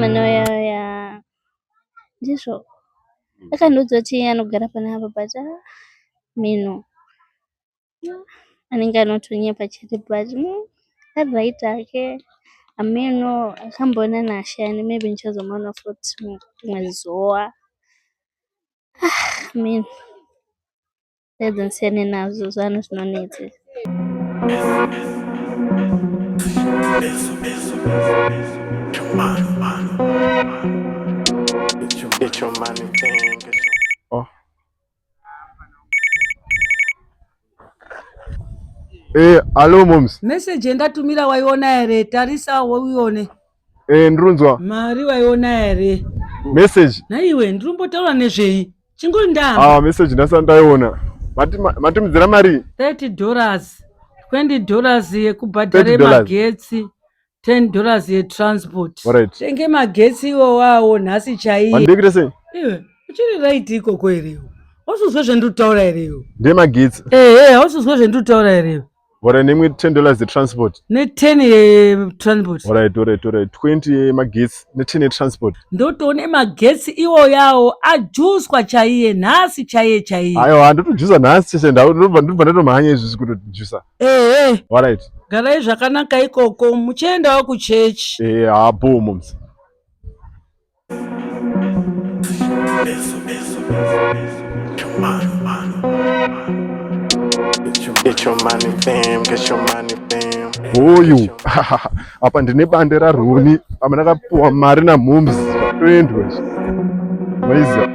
manoyaya ndizvo akandiudza kuti iye anogara pana apa but ah, mino anenge anotonyepa chete but mm, ari right hake ameno akamboona nashe yani maybe ndichazomuona futi rimwe zuva ah, mino Pedza nsiyane nazvo zvanhu zvinonetsa. Oh. Eh, alo moms. Message yendatumira waiona here? Tarisa uione. Eh, ndirunzwa. Mari waiona here? Message. Naiwe ndirumbotaura nezvei? Chingori ndaa. Ah, message ndasa ndaiona. Mati matumidzira mari? 30 dollars. 20 dollars yekubhadhara magetsi. 10 dollars yetransport. Alright. Tenge magetsi iwo wawo nhasi chaiye. Wandiri kuita sei? Iwe, uchiri right ikoko here? Hausizwe zvendiri kutaura here? Ndemagetsi. Eh, eh, hausizwe zvendiri kutaura here? Ora nemwe 10 dollars the transport. Ne 10 ye transport. Ora right, ora right, ora right. 20 ye magetsi ne 10 ye transport. Ndotoone magetsi iwo yawo ajuswa chaiye nhasi chaiye chaiye. Aiwa ndotojusa nhasi chese ndau ndobva ndobva ndatomhanya izvi zvikutojusa. Eh eh. Ora right. Garai zvakanaka ikoko muchiendawo kuchechi. Eh ha boom moms. hoyu apa ndine bande raroni apa ndakapuwa mari namhoms zvatoendwa maiziva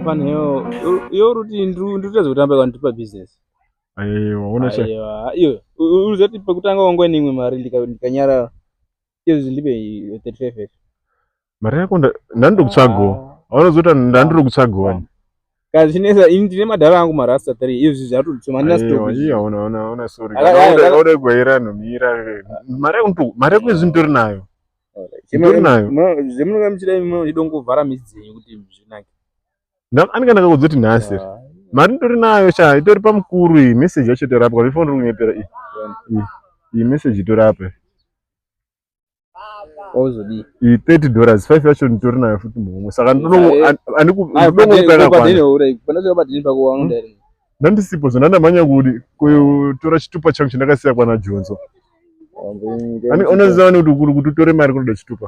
panewo yo ruti ndiri kutadza kutamba kwandipa business Aiwa, unocha. Aiwa, iyo uzoti pekutanga wangwa neimwe mari ndikanyarara. Iyo zvindipe 35. Mari yako ndandiri kutsvagawo. Ah. Aunozoita ndandiri kutsvagawo. Ah. Kazi chinesa ini ndine madhara angu marasta 3 izvi zvatotuma ndina stop. Aiwa, ona ona ona sorry. Ode gwaira nomira. Mari yako mari yako izvi nditori nayo. Nditori nayo. Zvemunokamchira imwe idongo vhara midzi dzenyu kuti zvinake. anenge ndakakuudza kuti nhasi ah, mari nditori nayo cha itori pamukuru iyi message yacho itorapwa vifoni ri kunyepera iyi iyi message itorapa ozodii iyi thirty dollars five yacho nditori nayo futi mumwe saka ndandisipo zvo ndandamhanya kudi kutora chitupa changu chandakasiya kwana jonzo unoziva nekuti kuri kuti utore mari kunoda chitupa